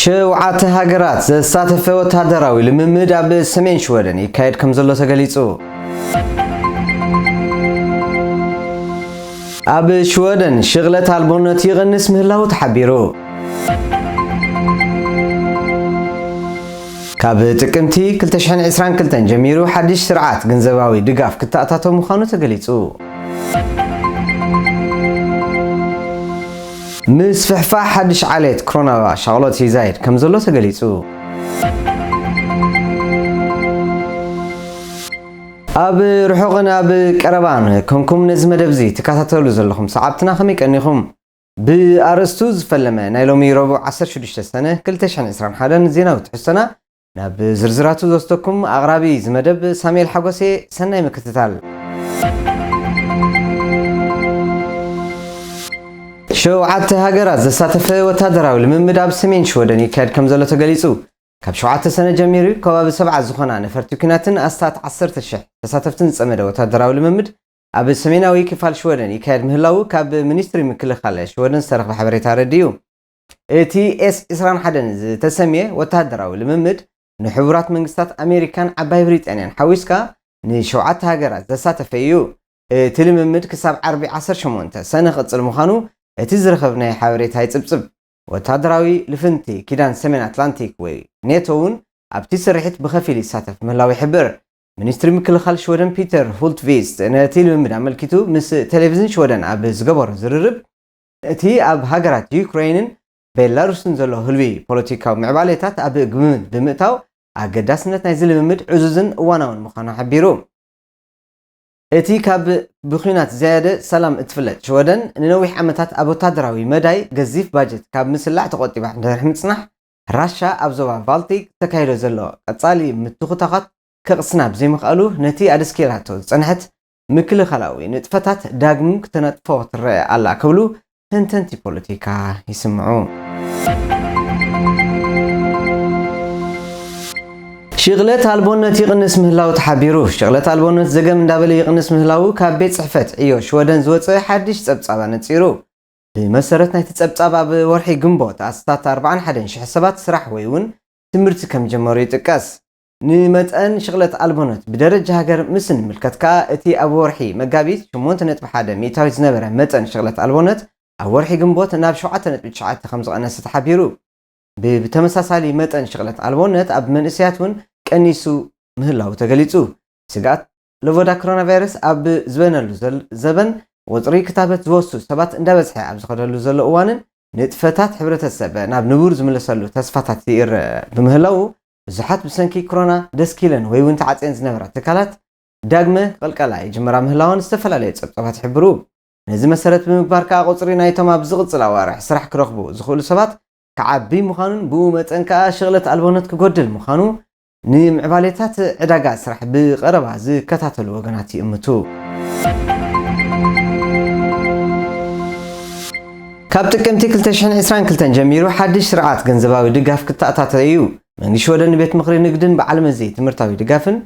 ሸውዓተ ሃገራት ዘሳተፈ ወታደራዊ ልምምድ ኣብ ሰሜን ሽወደን ይካየድ ከም ዘሎ ተገሊጹ። ኣብ ሽወደን ሽቕለት ኣልቦነት ይቕንስ ምህላዉ ተሓቢሩ። ካብ ጥቅምቲ 2022 ጀሚሩ ሓድሽ ስርዓት ገንዘባዊ ድጋፍ ክተኣታቶ ምዃኑ ተገሊጹ። ምስፍሕፋሕ ሓድሽ ዓሌት ክሮና ሻቕሎት ይዛይድ ከምዘሎ ተገሊጹ። ኣብ ርሑቕን ኣብ ቀረባን ኮንኩም ነዚ መደብዚ ትከታተሉ ዘለኹም ሰዓብትና ከመይ ቀኒኹም? ብኣርእስቱ ዝፈለመ ናይ ሎሚ ረቡዕ ዓሰርተ ሽዱሽተ ሰነ ክልተ ሽሕን ዕስራን ሓደን ዜናዊ ትሕዝቶና ናብ ዝርዝራቱ ዝወስደኩም ኣቕራቢ እዚ መደብ ሳሙኤል ሓጎስ'የ፣ ሰናይ ምክትታል። ሸውዓተ ሃገራት ዘሳተፈ ወታደራዊ ልምምድ ኣብ ሰሜን ሽወደን ይካየድ ከምዘሎ ተገሊጹ። ካብ ሸውዓተ ሰነ ጀሚሩ ከባቢ ሰብዓ ዝኾና ነፈርቲ ኲናትን ኣስታት ዓሰርተ ሽሕ ተሳተፍትን ዝጸመደ ወታደራዊ ልምምድ ኣብ ሰሜናዊ ክፋል ሽወደን ይካየድ ምህላዉ ካብ ሚኒስትሪ ምክልኻል ሽወደን ዝተረኽበ ሓበሬታ ኣረዲኡ። እቲ ኤስ ዕስራን ሓደን ዝተሰምየ ወተሃደራዊ ልምምድ፣ ንሕቡራት መንግስታት ኣሜሪካን ዓባይ ብሪጣንያን ሓዊስካ ንሸውዓተ ሃገራት ዘሳተፈ እዩ። እቲ ልምምድ ክሳብ ዓርቢ ዓሰርተ ሸሞንተ ሰነ ክቕጽል ምዃኑ እቲ ዝረኸብናዮ ሓበሬታ ይጽብጽብ። ወተሃደራዊ ልፍንቲ ኪዳን ሰሜን ኣትላንቲክ ወይ ኔቶ እውን ኣብቲ ስርሒት ብኸፊል ይሳተፍ ምህላዉ ይሕብር። ሚኒስትሪ ምክልኻል ሽወደን ፒተር ሁልትቪስት ነቲ ልምምድ ኣመልኪቱ ምስ ቴሌቪዝን ሽወደን ኣብ ዝገበሮ ዝርርብ፣ እቲ ኣብ ሃገራት ዩክረይንን ቤላሩስን ዘሎ ህልዊ ፖለቲካዊ ምዕባሌታት ኣብ ግምት ብምእታው ኣገዳስነት ናይዚ ልምምድ ዕዙዝን እዋናውን ምዃኑ ሓቢሩ። እቲ ካብ ብኲናት ዝያደ ሰላም እትፍለጥ ሽወደን፣ ንነዊሕ ዓመታት ኣብ ወተሃደራዊ መዳይ ገዚፍ ባጀት ካብ ምስላዕ ተቖጢባ ድሕሪ ምጽናሕ፣ ራሻ ኣብ ዞባ ባልቲክ እተካይዶ ዘሎ ቀጻሊ ምትኹታዃት ከቕስና ብዘይምኽኣሉ ነቲ ኣደስኪራቶ ዝጸንሐት ምክልኻላዊ ንጥፈታት ዳግም ክተነጥፎ ትረኣ ኣላ ክብሉ ተንተንቲ ፖለቲካ ይስምዑ። ሽቕለት ኣልቦነት ይቕንስ ምህላዉ ተሓቢሩ። ሽቕለት ኣልቦነት ዘገም እንዳበለ ይቕንስ ምህላዉ ካብ ቤት ጽሕፈት ዕዮ ሽወደን ዝወጸ ሓድሽ ጸብጻብ ኣነጺሩ። ብመሰረት ናይቲ ጸብጻብ ኣብ ወርሒ ግንቦት ኣስታት ኣርብዓን ሓደን ሽሕ ሰባት ስራሕ ወይ'ውን ትምህርቲ ከምጀመሩ ይጥቀስ። ንመጠን ሽቕለት ኣልቦነት ብደረጃ ሃገር ምስ እንምልከት ከኣ እቲ ኣብ ወርሒ መጋቢት ሸሞንተ ነጥቢ ሓደ ሚእታዊት ዝነበረ መጠን ሽቕለት ኣልቦነት ኣብ ወርሒ ግንቦት ናብ ሸውዓተ ነጥቢ ትሽዓተ ከምዝቐነሰ ተሓቢሩ። ብብተመሳሳሊ መጠን ሽቕለት ኣልቦነት ኣብ መንእሰያት እውን ቀኒሱ ምህላዉ ተገሊጹ። ስግኣት ለቮዳ ክሮናቫይረስ ኣብ ዝበነሉ ዘበን ቁጽሪ ክታበት ዝወስዱ ሰባት እንዳበዝሐ ኣብ ዝኸደሉ ዘሎ እዋንን ንጥፈታት ሕብረተሰብ ናብ ንቡር ዝምለሰሉ ተስፋታት ይርእ ብምህላዉ ብዙሓት ብሰንኪ ክሮና ደስኪለን ወይ እውን ተዓጽየን ዝነበራ ትካላት ዳግመ ክቕልቀላ ይጅምራ ምህላወን ዝተፈላለዩ ጸብጻባት ይሕብሩ። ነዚ መሰረት ብምግባር ከኣ ቁጽሪ ናይቶም ኣብ ዝቕጽል ኣዋርሕ ስራሕ ክረኽቡ ዝኽእሉ ሰባት ክዓቢ ምዃኑን ብኡ መጠን ከኣ ሽቕለት ኣልቦነት ክጎድል ምዃኑ ንምዕባሌታት ዕዳጋ ስራሕ ብቐረባ ዝከታተሉ ወገናት ይእምቱ። ካብ ጥቅምቲ ክልተ ሽሕን ዕስራን ክልተን ጀሚሩ ሓድሽ ስርዓት ገንዘባዊ ድጋፍ ክተኣታቶ እዩ። መንግስቲ ሽወደን ንቤት ምኽሪ ንግድን በዓል መዚ ትምህርታዊ ድጋፍን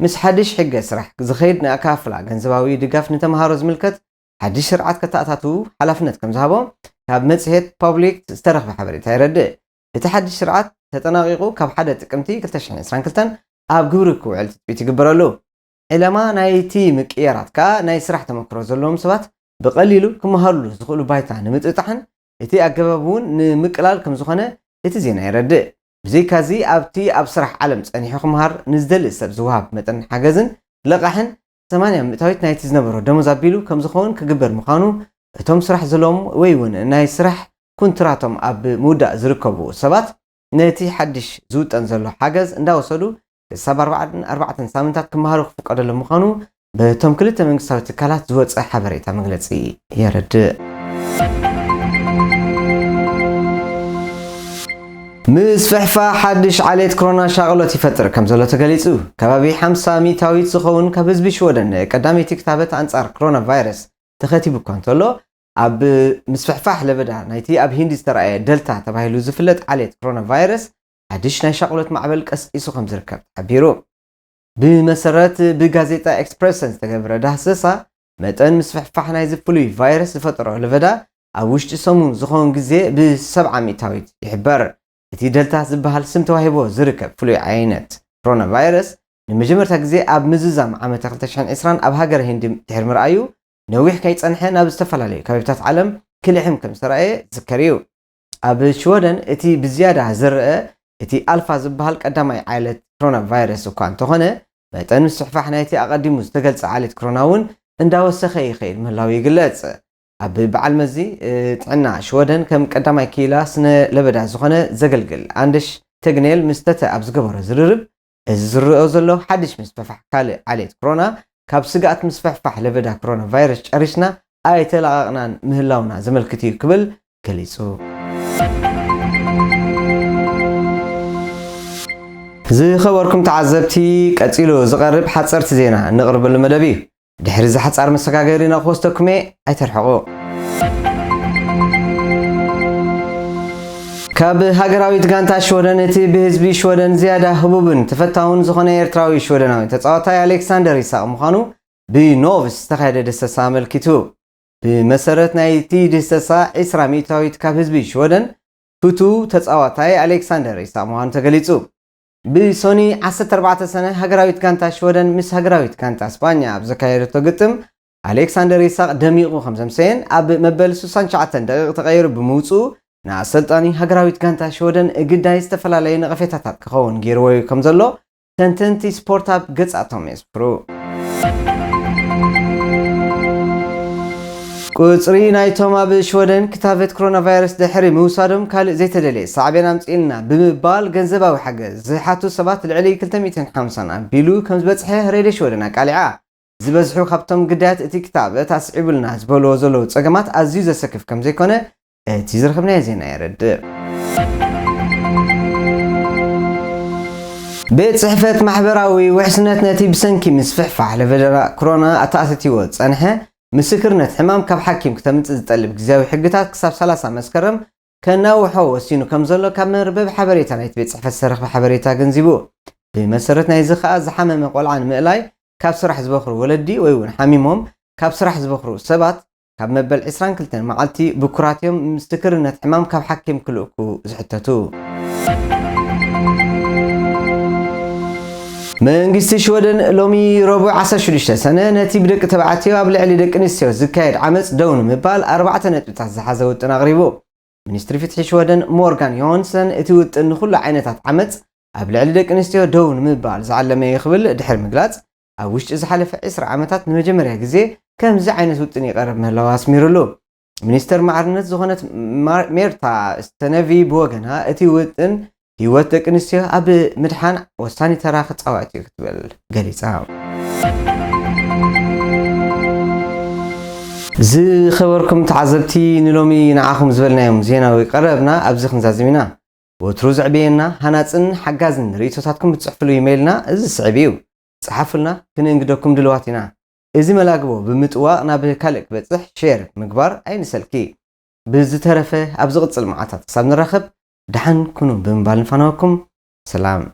ምስ ሓድሽ ሕገ ስራሕ ዝኸይድ ንኣከፋፍላ ገንዘባዊ ድጋፍ ንተምሃሮ ዝምልከት ሓድሽ ስርዓት ከተኣታትው ሓላፍነት ከምዝሃቦ ካብ መጽሔት ፖብሊክት ዝተረኽበ ሓበሬታ የረድእ። እቲ ሓድሽ ስርዓት ተጠናቒቑ ካብ ሓደ ጥቅምቲ ክልተ ሽሕን ዕስራን ክልተን ኣብ ግብሪ ክውዕል ትጽቢት ይግበረሉ። ዕለማ ናይቲ ምቅይያራት ከኣ ናይ ስራሕ ተመክሮ ዘለዎም ሰባት ብቐሊሉ ክመሃሩሉ ዝኽእሉ ባይታ ንምጥጣሕን እቲ ኣገባብ እውን ንምቅላል ከም ዝኾነ እቲ ዜና የረድእ። ብዘይካዚ ኣብቲ ኣብ ስራሕ ዓለም ጸኒሑ ክመሃር ንዝደሊ ሰብ ዝወሃብ መጠን ሓገዝን ልቓሕን ሰማንያ ሚእታዊት ናይቲ ዝነበሮ ደሞዝ ኣቢሉ ከም ዝኸውን ክግበር ምዃኑ እቶም ስራሕ ዘለዎም ወይ እውን ናይ ስራሕ ኩንትራቶም ኣብ ምውዳእ ዝርከቡ ሰባት ነቲ ሓድሽ ዝውጠን ዘሎ ሓገዝ እንዳወሰዱ ክሳብ ኣርባዓን ኣርባዕተን ሳምንታት ክመሃሩ ክፍቀደሎም ምዃኑ በቶም ክልተ መንግስታዊ ትካላት ዝወጸ ሓበሬታ መግለጺ የረድእ። ምስፍሕፋሕ ሓድሽ ዓሌት ክሮና ሻቕሎት ይፈጥር ከምዘሎ ተገሊጹ። ከባቢ ሓምሳ ሚእታዊት ዝኸውን ካብ ህዝቢ ሽወደን ንቀዳመይቲ ክታበት ኣንጻር ክሮና ቫይረስ ተኸቲቡ እኳ እንተሎ፣ ኣብ ምስፍሕፋሕ ለበዳ ናይቲ ኣብ ሂንዲ ዝተራእየ ደልታ ተባሂሉ ዝፍለጥ ዓሌት ክሮና ቫይረስ ሓድሽ ናይ ሻቕሎት ማዕበል ቀስቂሱ ከም ዝርከብ ተሓቢሩ። ብመሰረት ብጋዜጣ ኤክስፕረሰን ዝተገብረ ዳህሰሳ፣ መጠን ምስፍሕፋሕ ናይዚ ፍሉይ ቫይረስ ዝፈጠሮ ለበዳ ኣብ ውሽጢ ሰሙን ዝኸውን ግዜ ብሰብዓ ሚእታዊት ይሕበር። እቲ ደልታ ዝበሃል ስም ተዋሂብዎ ዝርከብ ፍሉይ ዓይነት ኮሮናቫይረስ፣ ንመጀመርታ ግዜ ኣብ ምዝዛም ዓመተ ክልተ ሽሕን ዕስራን ኣብ ሃገረ ሂንዲ ድሕሪ ምርኣዩ፣ ነዊሕ ከይጸንሐ ናብ ዝተፈላለዩ ከባቢታት ዓለም ክልሕም ከም ዝተራእየ ዝዝከር እዩ። ኣብ ሽወደን እቲ ብዝያዳ ዝረኣ እቲ ኣልፋ ዝበሃል ቀዳማይ ዓሌት ክሮና ቫይረስ እኳ እንተኾነ፣ መጠን ምስፍሕፋሕ ናይቲ ኣቐዲሙ ዝተገልጸ ዓሌት ክሮና እውን እንዳወሰኸ ይኸይድ ምህላዉ ይግለጽ። ኣብ በዓል መዚ ጥዕና ሽወደን ከም ቀዳማይ ክኢላ ስነ ለበዳ ዝኾነ ዘገልግል ኣንደሽ ተግኔል ምስ ተተ ኣብ ዝገበሮ ዝርርብ፣ እዚ ዝርኦ ዘሎ ሓድሽ ምስፍሕፋሕ ካልእ ዓሌት ክሮና፣ ካብ ስግኣት ምስፍሕፋሕ ለበዳ ክሮና ቫይረስ ጨሪስና ኣይተላቐቕናን ምህላውና ዘመልክት እዩ ክብል ገሊጹ። ዝኸበርኩም ተዓዘብቲ፣ ቀጺሉ ዝቐርብ ሓጸርቲ ዜና እነቕርበሉ መደብ እዩ። ድሕሪ እዚ ሓጻር መሰጋገሪና ክወስደኩም እየ ኣይተርሕቑ። ካብ ሃገራዊት ጋንታ ሽወደን እቲ ብህዝቢ ሽወደን ዝያዳ ህቡብን ተፈታውን ዝኾነ ኤርትራዊ ሽወደናዊ ተጻዋታይ ኣሌክሳንደር ይሳቕ ምዃኑ ብኖቭስ ዝተኻየደ ድህሰሳ ኣመልኪቱ። ብመሰረት ናይቲ ድህሰሳ ዕስራ ሚእታዊት ካብ ህዝቢ ሽወደን ፍቱው ተጻዋታይ ኣሌክሳንደር ይሳቕ ምዃኑ ተገሊጹ። ብሶኒ ዓሰርተ ኣርባዕተ ሰነ ሃገራዊት ጋንታ ሽወደን ምስ ሃገራዊት ጋንታ ስጳኛ ኣብ ዘካየደቶ ግጥም ኣሌክሳንደር ኢሳቕ ደሚቑ ከምዘምሰየን ኣብ መበል ስሳን ትሽዓተን ደቒቕ ተቐይሩ ብምውጽኡ ንኣሰልጣኒ ሃገራዊት ጋንታ ሽወደን ግዳይ ዝተፈላለዩ ነቐፌታታት ክኸውን ገይርዎ'ዩ ከምዘሎ ተንተንቲ ስፖርት ኣብ ገጻቶም ቁጽሪ ናይቶም ኣብ ሽወደን ክታበት ኮሮናቫይረስ ድሕሪ ምውሳዶም ካልእ ዘይተደልየ ሳዕቤን ኣምጺኡልና ብምባል ገንዘባዊ ሓገዝ ዝሓቱ ሰባት ልዕሊ ክልተ ሚእትን ሓምሳን ኣቢሉ ከምዝበጽሐ ሬድዮ ሽወደን ኣቃሊዓ። ዝበዝሑ ካብቶም ግዳያት እቲ ክታበት ኣስዒቡልና ዝበልዎ ዘለዉ ጸገማት ኣዝዩ ዘሰክፍ ከምዘይኮነ እቲ ዝረኸብናዮ ዜና የረድእ። ቤት ጽሕፈት ማሕበራዊ ውሕስነት ነቲ ብሰንኪ ምስፍሕፋሕ ለቨደራ ክሮና ኣተኣትቲዎ ዝጸንሐ ምስክርነት ሕማም ካብ ሓኪም ክተምጽእ ዝጠልብ ግዝያዊ ሕግታት ክሳብ ሰላሳ መስከረም ከናውሖ ወሲኑ ከምዘሎ ካብ መርበብ ሓበሬታ ናይቲ ቤት ጽሕፈት ዝተረኽበ ሓበሬታ ኣገንዚቡ። ብመሰረት ናይዚ ከኣ ዝሓመመ ቆልዓ ንምእላይ ካብ ስራሕ ዝበኽሩ ወለዲ ወይ'ውን ሓሚሞም ካብ ስራሕ ዝበኽሩ ሰባት ካብ መበል ዕስራን ክልተን መዓልቲ ብኩራት እዮም ምስክርነት ሕማም ካብ ሓኪም ክልእኩ ዝሕተቱ። መንግስቲ ሽወደን ሎሚ ረቡዕ ዓሰርተ ሽዱሽተ ሰነ ነቲ ብደቂ ተባዕትዮ ኣብ ልዕሊ ደቂ ኣንስትዮ ዝካየድ ዓመጽ ደው ንምባል ኣርባዕተ ነጥብታት ዝሓዘ ውጥን ኣቕሪቡ። ሚኒስትሪ ፍትሒ ሽወደን ሞርጋን ዮሃንሰን እቲ ውጥን ንኹሉ ዓይነታት ዓመጽ ኣብ ልዕሊ ደቂ ኣንስትዮ ደው ንምባል ዝዓለመ እዩ ክብል ድሕሪ ምግላጽ ኣብ ውሽጢ ዝሓለፈ ዕስራ ዓመታት ንመጀመርያ ግዜ ከምዚ ዓይነት ውጥን ይቐርብ ምህላዉ ኣስሚሩሉ። ሚኒስተር ማዕርነት ዝኾነት ሜርታ ስተነቪ ብወገና እቲ ውጥን ህይወት ደቂ ኣንስትዮ ኣብ ምድሓን ወሳኒ ተራ ክጻወት እዩ ክትብል ገሊጻ። ዝኸበርኩም ተዓዘብቲ ንሎሚ ንዓኹም ዝበልናዮም ዜናዊ ቀረብና ኣብዚ ክንዛዝም ኢና። ወትሩ ዘዕብየና ሃናጽን ሓጋዝን ርእይቶታትኩም ብትጽሕፍሉ ኢመይልና እዚ ዝስዕብ ኢዩ። ጽሓፉልና ክንእንግደኩም ድልዋት ኢና። እዚ መላግቦ ብምጥዋቕ ናብ ካልእ ክበጽሕ፣ Share፣ ምግባር ኣይንሰልኪ። ብዝተረፈ ኣብ ዝቕጽል መዓልታት ክሳብ ንራኸብ ደሓን ኩኑ ብምባል ንፋነወኩም። ሰላም!